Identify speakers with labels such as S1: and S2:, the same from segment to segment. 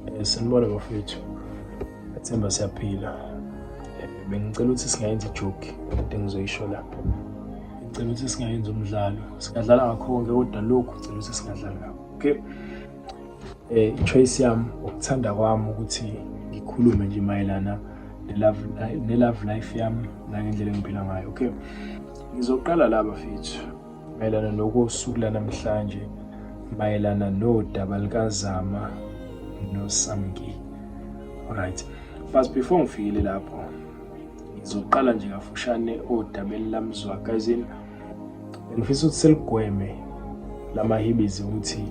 S1: Eh, sanibona bafethu athemba siyaphila eh, bengicela ukuthi singayenza ijoki kade ngizoyisho lapho ngicela ukuthi singayenza umdlalo singadlala ngakho konke kodwa lokhu ngicela ukuthi singadlali ngakho okay eh choice yami ukuthanda kwami ukuthi ngikhulume nje mayelana nelove nelove life yami nangendlela engiphila ngayo okay ngizoqala la bafethu mayelana nokosuku lanamhlanje mayelana nodaba likazama nosamki right but before ngifikile lapho ngizoqala nje kafushane odabeni lamzwa kazini ngifisa ukuthi seligweme lamahibizi ukuthi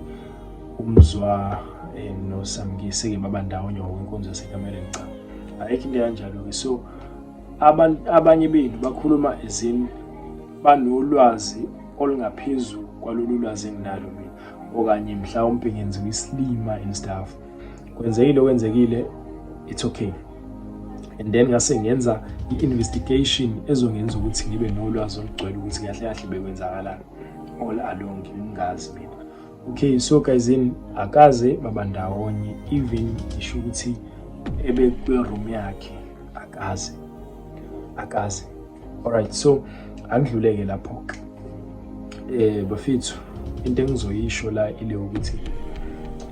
S1: umzwa eh, nosamkise ke baba ndawonye ngokwenkonzo yasekameleni cha ayikho into kanjalo-ke so abanye bethu bakhuluma ezini banolwazi olungaphezu kwalolu lwazi enginalo mina okanye mhlawumbe ngenziwa isilima and stuff kwenzekile okwenzekile it's okay and then ngase ngenza i-investigation ezongenza ukuthi ngibe nolwazi olugcwele ukuthi kahle kahle bekwenzakalani all along ngingazi mina okay so guys in akaze baba ndawonye even ngisho ukuthi ebe kwi-room yakhe akaze akaze Alright so angidluleke lapho eh bafethu into engizoyisho la ile ukuthi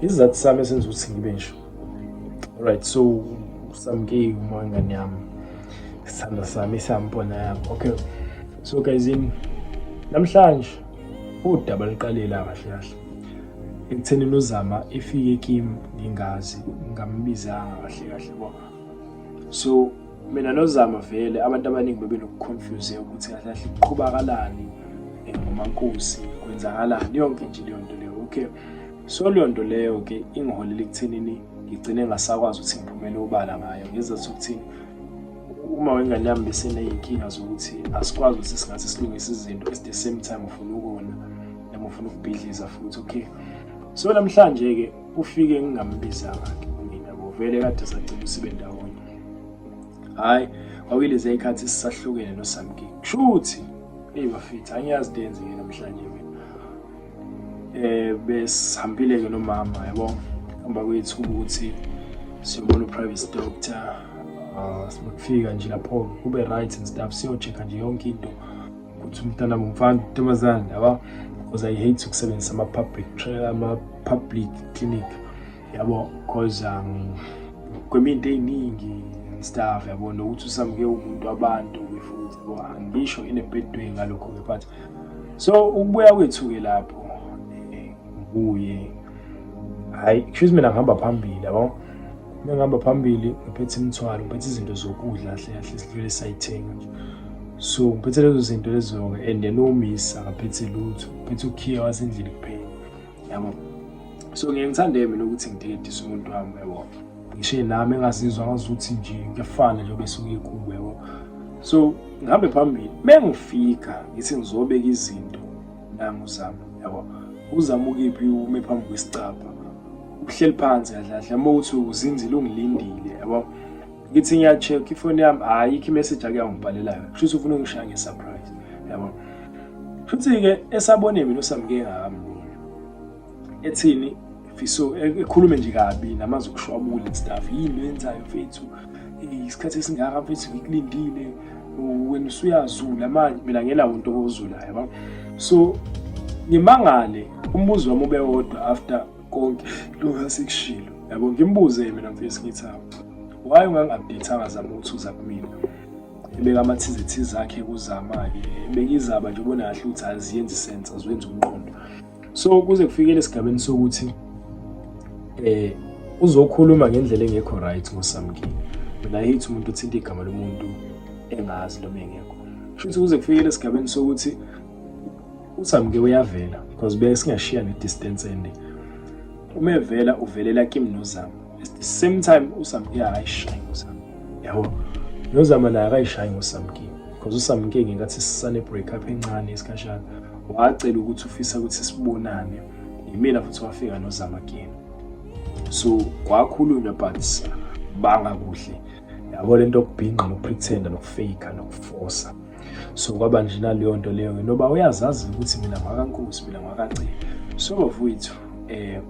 S1: isizathu sami esenza ukuthi ngibe nje alright so usamkeki uma ingane yami isithanda sami siyambona yami okay so guys in namhlanje udaba liqalela kahle kahle ekutheni nozama efike kim ngingazi ngambizanga kahle kahle bo so mina nozama vele abantu abaningi bebenokuconfuse ukuthi kahle kahle kuqhubakalani eh, ngomankosi kwenzakalani yonke nje leyo nto leyo okay so leyo nto leyo-ke ingiholele ekuthenini ngigcine ngasakwazi ukuthi ngiphumele obala ngayo ngenza sokuthi uma wengane yami beseney'nkinga zokuthi asikwazi ukuthi singathi silungise izinto at the same time ufuna ukona noma ufuna ukubhidliza futhi okay so namhlanje-ke ufike ngingambiza-ke mina bovele kade sacela sibe ndawonye hayi kwakuyilezi ikhathi sisahlukene nosamki kushuthi hey bafethu angiyazi denze ke namhlanje mina eh besihambile ke nomama yabo hamba kwethu ukuthi siyobona uprivate doctor ah, sibafika nje lapho kube right and stuff siyocheck nje yonke into ukuthi umntana mfana intombazane yabo because i hate ukusebenzisa ama public ama public clinic yabo cause um, kweminye into ey'ningi stuff yabo nokuthi usamuke umuntu wabantu futhi yabo angisho in a bad way ngalokho-ke but so ukubuya kwethu-ke lapho eh, kuye hhayi kusho mina ngihamba phambili yabo uma ngihamba phambili ngiphethe imithwalo ngiphethe izinto zokudla kahle kahle sidlule sayithenga nje so ngiphethe lezo zinto lezo-ke and then umisa akaphethe lutho ngiphethe ukhiya wasendlini kuphela yabo so ngeke ngithande mina ukuthi ngidedise umuntu wami yabo ngishe nami engazizwa ngazuthi nje kuyafana nje bese uyekubo yabo so ngihambe phambili mengifika ngithi ngizobeka izinto nangu zami yabo uzama ukiphi ume phambi kwesicabha uhleli phansi kahle kahle uma uthi uzinzile ungilindile yabo ngithi ngiya-check ifoni yami ayikho imessage ake yangibhalela yona kusho ukuthi ufuna ungishaya nge-surprise yabo futhi-ke esabone mina usamke engakamboni ethini fiso e-, ekhulume nje kabi namazwi okushwabula and stuff yini yenzayo mfethu isikhathi esingaka mfethu ngikulindile wena usuyazula manje mina ngenawo into kozulayo yabo so ngimangale umbuzo wami ube wodwa after konke lokhu asikushilo yabo ngimbuze mina mfisi ngithi why ungangi-updatanga zama ukuthi uza kumina ebeka amathizithizi akhe kuzama-ke ebekizaba nje ubona kahle ukuthi aziyenzi sense aziwenzi umqondo so kuze kufikele esigabeni sokuthi eh uzokhuluma ngendlela engekho right ngosamkini mina hate umuntu uthinta igama lomuntu engazi noma engekho futhi kuze kufikele esigabeni sokuthi usamke uyavela because beke singashiya ne distance ende uma evela uvelela kim nozama at the same time usamke akayishayi ngosama yabo nozama naye akayishayi ngosamke because usamke ngenkathi sisane break up encane isikhashana wacela ukuthi ufisa ukuthi sibonane yimina futhi wafika nozama again so kwakhulunywa but banga kuhle yabo lento okubhinqa nokupretenda nokufake nokufosa so kwaba nje naleyo nto leyo ngoba uyazazi ukuthi mina ngwakankosi mina ngwakagcina so bafowethu eh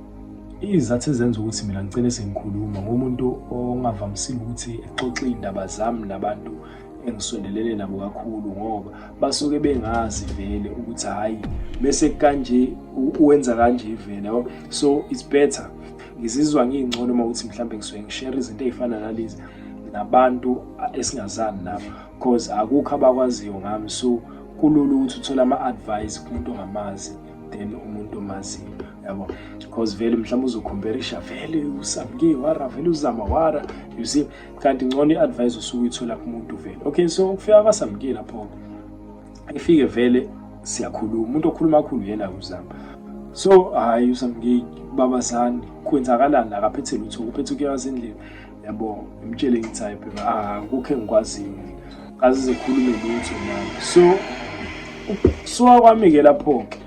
S1: izathu ezenza ukuthi mina ngicele sengikhuluma ngomuntu ongavamisile ukuthi exoxe iy'ndaba zami nabantu engisondelele nabo kakhulu ngoba basuke bengazi vele ukuthi hhayi bese kanje uwenza kanje vele yabo so it's better ngizizwa ngiyingcono uma ukuthi mhlawumbe ngisuke ngishere izinto ey'fana nalezi nabantu esingazani nabo cause akukho abakwaziyo ngami so kulula ukuthi uthole ama-advice kumuntu ongamazi then umuntu omaziyo yabo because vele mhlawumbe uzokhomperisha vele usamke wara vele uzama wara you see kanti ngcono i-advice osuke uyithola kumuntu vele okay so ukufika kwasamke lapho ifike vele siyakhuluma umuntu okhuluma kakhulu yena uzama so hhayi usamke babazani kwenzakalani la kaphethe lutho kuphethe ukuyazindlela yabo ngimtshele ngithi hayi phela akukho ah, engikwaziyo kazi zikhulume lutho nami so ukusuka kwami-ke lapho-ke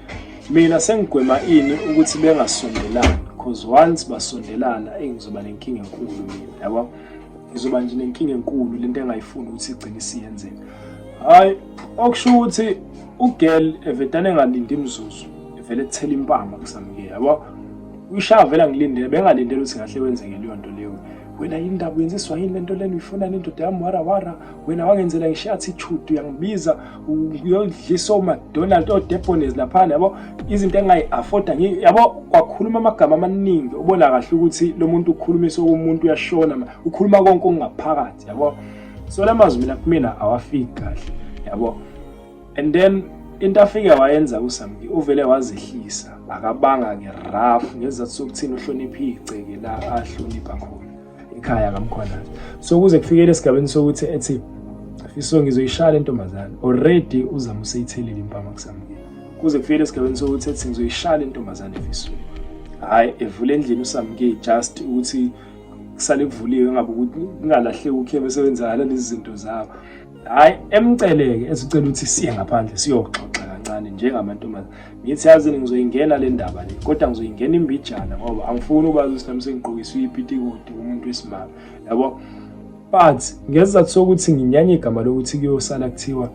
S1: mina sengigwema ini ukuthi bengasondelani because once basondelana eyi ngizoba nenkinga enkulu mina yabo ngizoba nje nenkinga enkulu le nto engayifuni ukuthi igcine isiyenzeka hhayi okusho ukuthi ugirl evedane engalindi imzuzu evele ethela impama kusamike yabo uyishaya vela ngilindele bengalindele ukuthi ngahle wenzeke leyo nto leyo wena yini ndaba uyenziswa yini lento lena uyifuna le ndoda yami wara wara wena wangenzela ngisho attitude uyangibiza uyodlisa omadonald odepones laphana yabo izinto engayi-afforda yabo kwakhuluma amagama amaningi ubona kahle ukuthi lo muntu ukhulumise okomuntu uyashona ukhuluma konke okungaphakathi yabo so la mazwi mina kumina awafiki kahle yabo and then into afike wayenza uSamki uvele wazehlisa akabanga ke rough ngezathu sokuthini uhlonipha igceke la ahlonipha khona ekhaya kamkhwanazi so kuze kufikele esigabeni sokuthi ethi iso ngizoyishaya lentombazane already uzama useyithelile impama kuSamki kuze kufikele esigabeni sokuthi ethi ngizoyishaya lentombazane efisweni hayi evule endlini uSamki just ukuthi kusale kuvuliwe ngabe ukuthi kungalahleki ukhe besebenzakala lezi zinto zabo Hayi emceleke esicela ukuthi siye ngaphandle siyoxoxa kancane njengamantombazane. Ngithi yazi ngizoyingena le ndaba le kodwa ngizoyingena imbijana ngoba angifuni ukwazi ukuthi nami sengiqokiswe ipitikoti umuntu wesimama. Yabo? But ngesizathu sokuthi nginyanye igama lokuthi kuyosala kuthiwa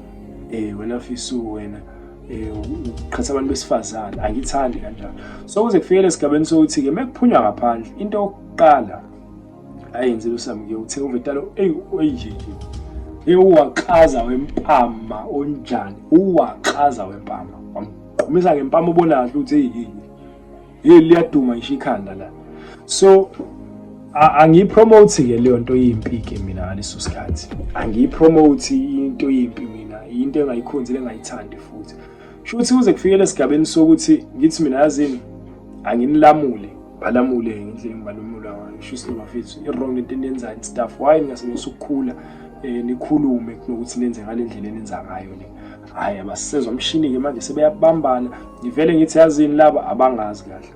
S1: eh wena fisu wena eh uqhatha abantu besifazane angithandi kanjalo. So kuze kufike lesigabeni sokuthi ke mekuphunywa ngaphandle into yokuqala ayenzile usamke uthe uvetalo eyi oyinjinji ewuwaxaza wempama onjani uwaxaza wempama wamqhumisa ngempama ubona kahle ukuthi eyini hey liyaduma ngisho ikhanda la so angiyipromote ke leyo nto yimpi ke mina ngaleso sikhathi angiyipromote into yimpi mina into engayikhonzile engayithandi futhi shuthi kuze kufikele esigabeni sokuthi ngithi mina yazini anginilamule balamule ngendlela engibalumula ngayo ngisho isilo bafethu i-wrong into eniyenzayo and stuff why ningasebenzisa ukukhula um nikhulume kunokuthi nenze ngale ndlela enenza ngayo le hhayi abasisezwa umshini-ke manje sebeyabambana ngivele ngithi yazini laba abangazi kahle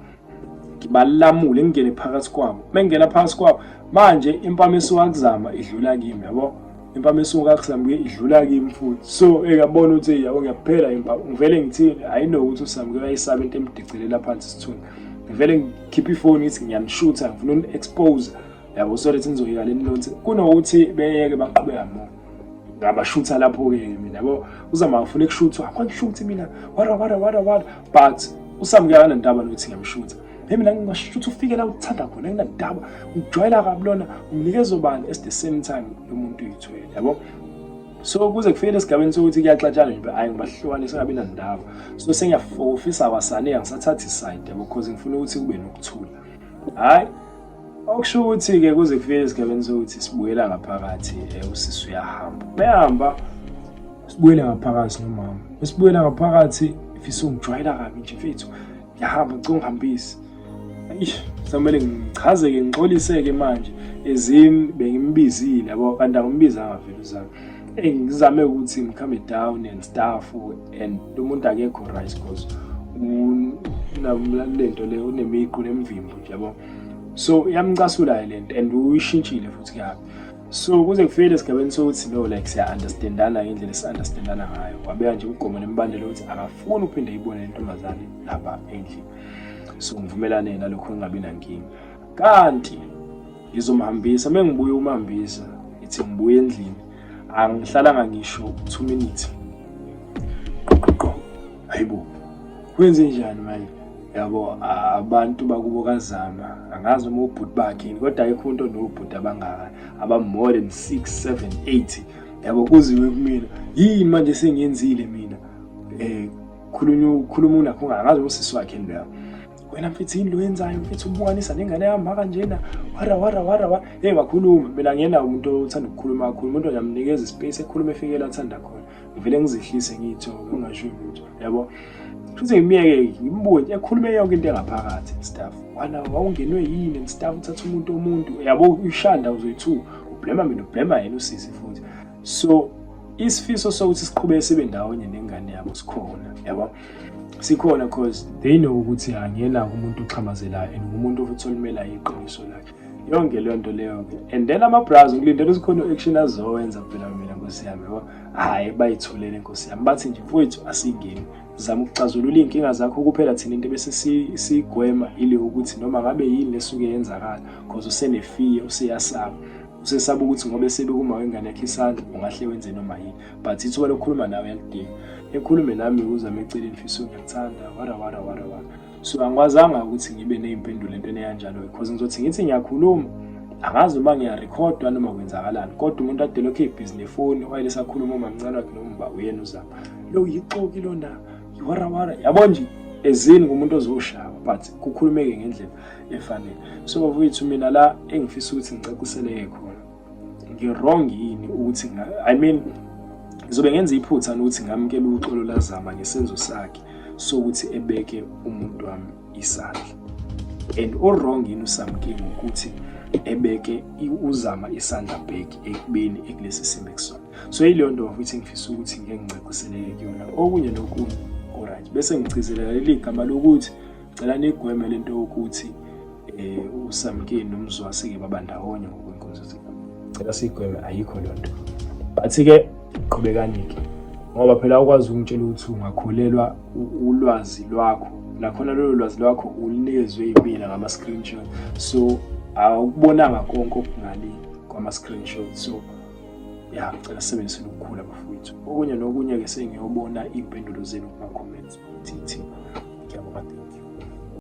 S1: ngibalamule ngingene phakathi kwabo uma ngingena phakathi kwabo manje impama esiwakuzama idlula kimi yabo impama esuka kusambuke idlula kimi futhi so ekabona ukuthi yabo ngiyaphela impama ngivele ngithini hayi no ukuthi usambuke ayisaba into emdicelela phansi isithunzi ngivele ngikhiphe ifoni ngithi ngiyamshutha ngifuna umu-expose yabo so lethi nizoyeka leni lonse kunokuthi beyeke baqhubeka mo ngabashutha lapho-ke mina yabo uzama ngifuna kushuthwa akhona shuthi mina wara wara wara wara but usamukela nentaba nokuthi ngiyamshutha Hey mina ngingasho ukuthi ufike la uthanda khona nginandaba ngijwayela kabi lona unginikeza obani at the same time lo muntu uyithwele yabo so kuze kufike lesigabeni sokuthi kuyaxatshana nje hayi ngibahlukane sengabi nandaba so sengiyafofisa wasane angisathathi side yabo because ngifuna ukuthi kube nokuthula hayi okusho ukuthi-ke kuze kufike esigabeni sokuthi sibuyela ngaphakathi eh, usisi uyahamba uyahamba sibuyele ngaphakathi nomama esibuyela ngaphakathi fisa ungijwayela kabi nje fethu yahamba ngicela ungihambise eish samele ngichazeke ngixoliseke manje ezimi bengimbizile yabo kanti angimbizanga vele uzami eyi ngizame ukuthi ngikhambe down and staff and lo muntu akekho right because unalento le unemiqu nemvimbo nje yabo so yamcasula-ke le nto and uyishintshile futhi kabi so kuze kufikele esigabeni sokuthi no like siya-understandana ngendlela esi-understandana ngayo wabeka nje umgomo nemibandela ukuthi akafuni ukuphinde ayibone le ntombazane lapha endlini so ngivumelane nalokho ngingabi nankinga kanti ngizomhambisa uma ngibuye umhambisa ithi ngibuye endlini angihlalanga ngisho two minutes hayibo kwenze njani manje yabo abantu bakubo kazama angazi uma ubhuti bakhe kodwa ayikho into nobhuti abangaka abamore than 6 7 8 yabo kuziwe kumina yini manje sengiyenzile mina eh khulunywa ukhuluma unakho ngazi usisi wakhe leyo wena mfethu yini lo yenzayo mfethu ubukanisa nengane yami kanjena wara wara wara wa hey wakhuluma mina ngiyena umuntu othanda ukukhuluma kakhulu umuntu ngiyamunikeza ispace ekhuluma efikela athanda khona ngivele ngizehlise ngiyithoke ungasho lutho yabo futhi ngimyeke ngimbuke nje ekhulume yonke into engaphakathi staff wala wawungenwe yini and staff uthatha umuntu omuntu yabo ushanda uzoyithu ublema mina ublema yena usisi futhi so isifiso sokuthi siqhubeke sibe ndawonye nengane yabo sikhona yabo sikhona cause they know ukuthi angiyena umuntu oxhamazelayo and ngumuntu futhi olimela iqiniso lakhe yonke leyo nto leyo ke and then ama-bras ngilindele ukuthi khona u-action azowenza phela mina nkosi yami yabo hhayi bayithulele nkosi yami bathi nje mfowethu asingeni zama ukuxazulula iy'nkinga zakho kuphela thina into bese sigwema ile ukuthi noma ngabe yini lesuke yenzakala because usenefiye useyasaba usesaba ukuthi ngoba esebekuma wengane yakhe isandla ungahle wenze noma yini but ithuba lokukhuluma nawe yalidinga ekhulume nami uzame eceleni fisa uyakuthanda wara wara wara wara so angikwazanga ukuthi ngibe ney'mpendulo entweni eyanjalo because ngizothi ngithi ngiyakhuluma angazi noma ngiyarekhodwa noma kwenzakalani kodwa umuntu adele okhe ibhizi nefoni wayele sakhuluma umamncane wakhe nomba uyena uzama lo yixoki lona yiwarawara yabo nje ezini kumuntu ozoshawa but kukhulumeke ngendlela efanele so bafowethu mina la engifisa ukuthi ngicaciseleke khona ngirong yini ukuthi i mean ngizobe ngenza iphutha nokuthi ngamukela uxolo lazama ngesenzo sakhe sokuthi ebeke umuntu wami isandla and o-wrong yini usamkile ukuthi ebeke uzama isandla back ekubeni ekulesi simo ekusona so yileyo nto wafuthi ngifisa ukuthi ngeke ngicaciseleke kuyona okunye nokunye oright bese ngigcizelela leli gama lokuthi Cela nigweme lento ukuthi eh uSamkeni nomzwasi ke baba ndawonye ngokwenkonzo zika. Cela sigweme ayikho lonto. But ke qhubekani ke. Ngoba phela ukwazi ukungitshela ukuthi ungakholelwa ulwazi lwakho. Nakhona lolo lwazi lwakho ulinezwe impila ngama screenshot. So awukubonanga konke okungale kwama screenshot. So ya ngicela sisebenzise nokukhula bafowethu okunye nokunye-ke sengiyobona iy'mpendulo zenu kuma-comments ukuthi ithini ngiyabonga thank you